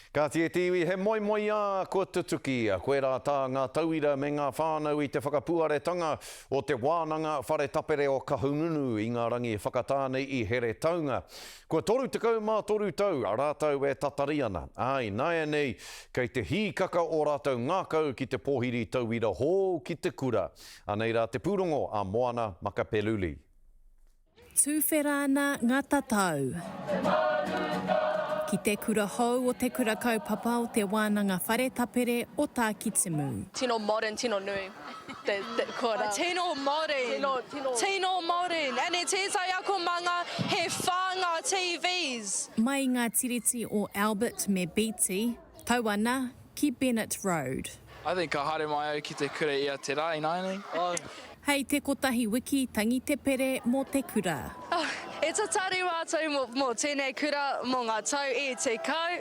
Kāti e te iwi he moemoeā kua tutuki, koirā tā ngā tauira me ngā whānau i te whakapuaretanga o te wānanga whare tapere o Kahungunu i ngā rangi whakatā nei i Heretaunga. Kua 33 tau rātou e tatari ana, ā, i nāianei kei te hīkaka ō rātou ngākau ki te pōhiri tauira hou ki te kura. Anei rā te pūrongo a Moana Makapeluli. Tuwhera ana nga tatau. Ki te kura hou o Te Kura Kaupapa o Te Wānanga Whare Tapere o Tākitimu. Tino modern tino nui te kura. Tino modern tino tino. Tino modern and e tētai akomanga he whā ngā TVs. Mai i ngā tiriti o Albert me Beatty. Tau ana ki Bennett Road. I think ka haere mai au ki te kura ia te ra ināianei oh. Hei te kotahi wiki tangi te pere mo te kura. Oh, e tatari mātou mo, mo tēnei kura mo ngā tau e tekau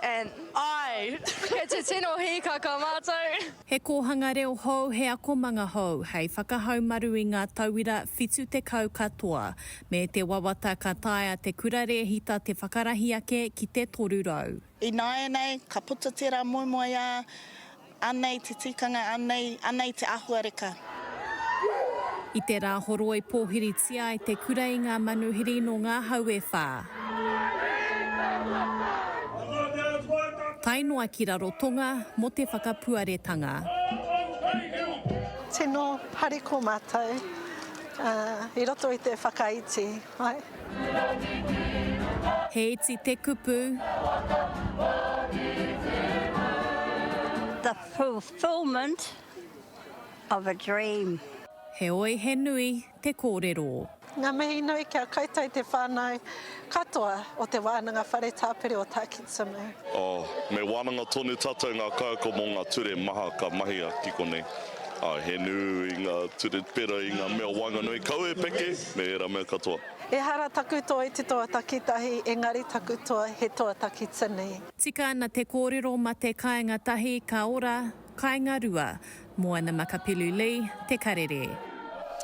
and I, kei te tino hīkaka mātou. He kōhanga reo hou, he akomanga hou hei whakahaumaru i ngā tauira 70 katoa, me te wawata ka taea te kura rēhita te whakarahi ake ki te 300. Ināianei, ka puta tērā moemoeā, anei te tikanga, anei, anei te āhuareka. I te rā horoi pōhiritia ai te kura i ngā manuhiri nō ngā hau e whā. Tae noa ki Rarotonga mō te whakapuaretanga. Tino hariko matou i roto i te whakaiti ai. He iti te kupu. of a dream. Heoi he nui te kōrero. Ngā mihi nui kia koutou i te whānau katoa o Te Wānanga Whare Tāpiri o Takitsunu. Oh, me wānanga tonu tātou ngā kaiako mō ngā ture maha ka mahia ki konei. Āe, he nui ngā ture pērā i ngā mea waenganui, kawe, peke, me ērā mea katoa. Ehara taku toa i te toa takitahi, engari taku toa he toa takitini. Tika ana te kōrero mate kāinga tahi ka ora Kainga Rua, Moana Makapelu Lee, Te Karere.